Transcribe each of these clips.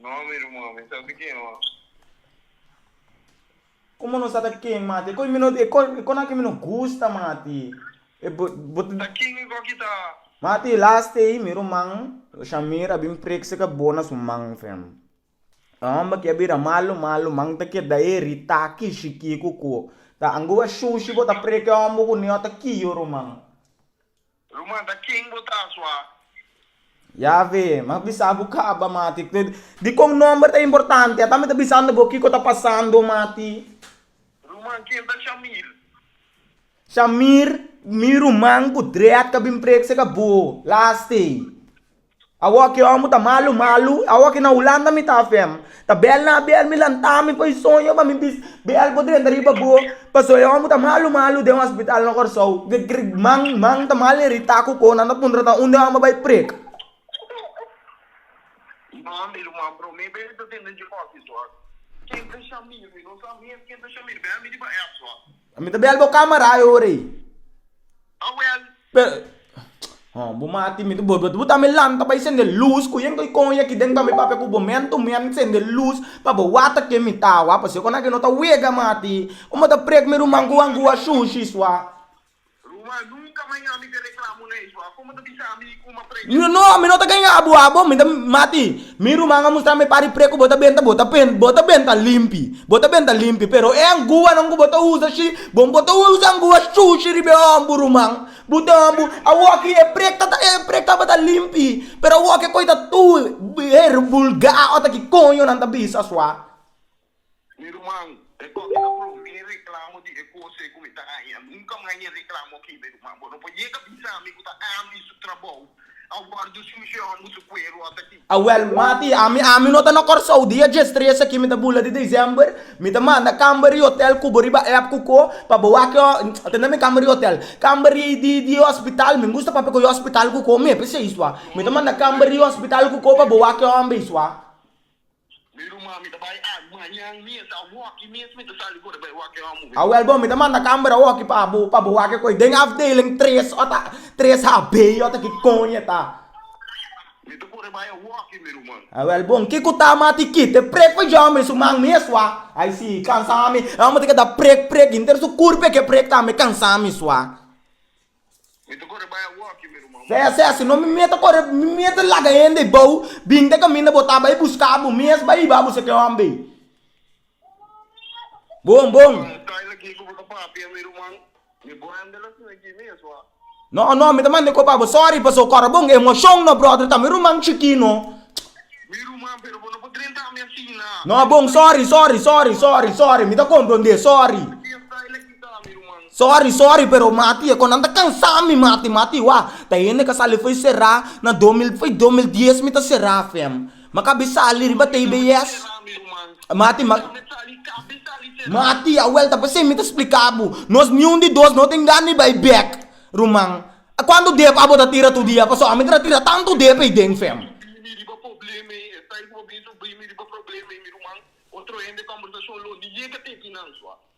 No, mi ruman, mi sa di ken oa. Como no sa ta ken mati? E cos mi no, e con aki mi no gusta mati. E bo, bo. Ta ken e goki ta? Mati, last ei mi ruman, Shamir, a bin prekse ka bo na su man fem. E homber aki a bira malu malu, man ta keda heri, taki, shiki, kuku. Ta angu a shushi bo ta prek e homber ku niño ta kiyo ruman. Lo manda ken bo ta asua? Yave, m'a bisa bo caba, mati. Di con nomber ta importante? Ata mi ta bisando bo kico ta pasando, mati. Ruman, ken ta Shamir? Shamir, mi ruman cu dread ca bin preek seca bo. Lastee. Awor ki omo ta malu malu, awor ki na Hulanda mi ta afem, ta bel na abel mi lanta mi pa e soño pa mi bis bel bo drenta riba bo, paso e omo ta malu malu den hospital na Kòrsou, man man ta mal irita ku ko nan ta puntra ta un de omo bai preka. Mi ta bel bo camera e ora ei. Oh well. Pero, oh, bo mati mi, bo, bo ta mi lanta pa i sende luz, ku yen ku i kon yaki den pa mi papia ku bo men to men sende luz pa bo wata ke mi ta awa, pasobra konake no ta wega mati. Bo mata prek mi ruman ku angu a shushi swa. Ruma, Nunka mai ami ta reklama un eisbo. A komo ta bisa ami ku ma precha? Ruma, No, mi no ta ganga bo abo, mi ta mati. Mi ruman a mustra mi pari pre ku bo ta benta, bo ta pen, bo ta benta limpi. Bo ta benta limpi. Pero e anguanan ku bo ta usa shi, bo bo ta usa angua shushi riba e hòmb bo ruman. Bo ten hòmb bo. Awoki e pre ta ta, e pre tabata limpi, pero awoki e koi ta tur, her, vulgá, ota ki koño nan ta bisa sua. Mi ruman, e kòke ta probi mi reklamo di e kosnan ku mi ta haña. Nunka mas e reklamo aki, mi ruman. Bo no por yega bisa mi ku ta ami su trabou a wòrdu solushon bo su kueru hastaki. Awèl, Mati, ami ami no ta na Kòrsou. Dia djes tres aki mi ta bula di desèmber. Mi ta manda kamba ri hotèl kubo riba èp ku ko pa bo wak e tende na mi kamba ri hotèl. Kamba ri di di hospital mi gusta papia ku e hospital ku ko mi e p'e seis tua. Mi ta manda kamba ri hospital ku ko pa bo wak e hòmber eis tua. Mi ruma, mi ta bai ag mañan mes, a wokki mes mi ta sali for bai wak e homo. A wel bo, mi ta manda kamber a wokki pa bo, pa bo wak e koi den afdeling tres, ota tres HB, ota ki koño e ta. Mi ta for bai a wokki, mi ruma. A wel bon, ki ku ta ma ti kit e prek pa jòmber su man mes wa? Ai si, kansa mi, e homo ta keda prek, prek, hinter su kurpe ke prek tambe kansa mi swa. Mi ta corre bai awoki mi ruman. Sea sea, si no mi mia ta corre, mi mia ta laga hende ei bou, bin ta caminda bo ta bai busca bo, mi es bai hiba bo si ke homber ei. Bon bon. Con estai na ki cu bo ta papia mi ruman, mi bo hende lo asina aki mes wa. No no, mi ta manda e copa bo, sorry paso cora bon, emocion no brother ta mi ruman chiki no. Mi ruman, pero bo no por drenta mi asina. No bon, sorry sorry sorry sorry sorry, mi ta comprende, sorry. Con estai na ki. Sorry sorry pero mati e kon nan ta kansa mi mati mati wa ta hende ka sali foi sera na do mil foi do mil dies mi ta sera fem ma ka bi sali riba tei be yes mati ma mati a welta pesei mi ta splika bo nos niun di dos no tin gana di bai bek ruman a kuantu dep abo ta tira tur dia paso a mi ta ta tira tantu dep ei den fem.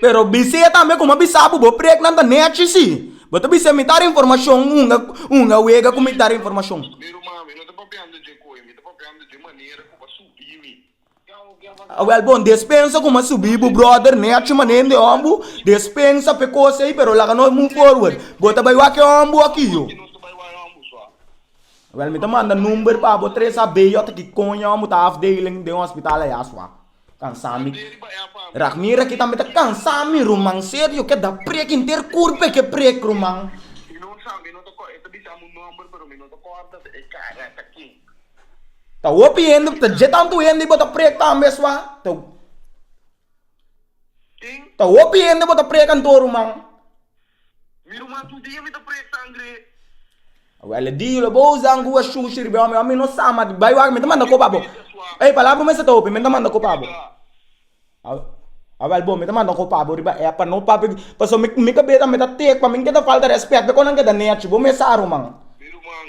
Pero bis'é tambe ku mi a bisa bo, bo preknan ta nechi, si bo ta bis'é mi dar informashon unda wega ku mi dar informashon. Awèl bon, des pensa ku mi a subi bo bròder nechi manera hende hòmber des pensa p'e kos ei, pero laga nos move forward. Bo ta bai wak e hòmber òf ki yo? Awèl mi ta manda number pa bo tres a beyo ta kiko un hòmber ta afdeling den hospital ayà, sua. Cansá mi. Rag mira aki tambe ta cansá mi ruman serio yo ke da prek inter cur pe ke prek ruman. Mi no sa mi no ta cor e ta bisa mi un nomber pero mi no ta corda e cara ta kin. Ta hopi hende ta dje tantu hende y bo ta prek tambe sua ta kin ta hopi hende bo ta prek anto ruman. Mi ruman tur dia mi ta prek sangre. Wele di yo lo bo usa un guwa shushi riba e hombre, mi no sa, ma di bai wak mi ta manda kopa bo. Ey palabra mester ta hopi, mi ta manda kopa bo. A wel bo mi ta manda kopa bo riba app pa no papia, paso mi mi kabesa mi ta take pa mi ke ta falta respet be kon nan ke ta nechi bo mi sa ruman. Mi ruman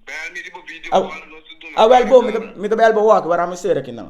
bel mi riba video call nos ta duna. A wel bo mi ta bel bo wak wara mi sera kinan.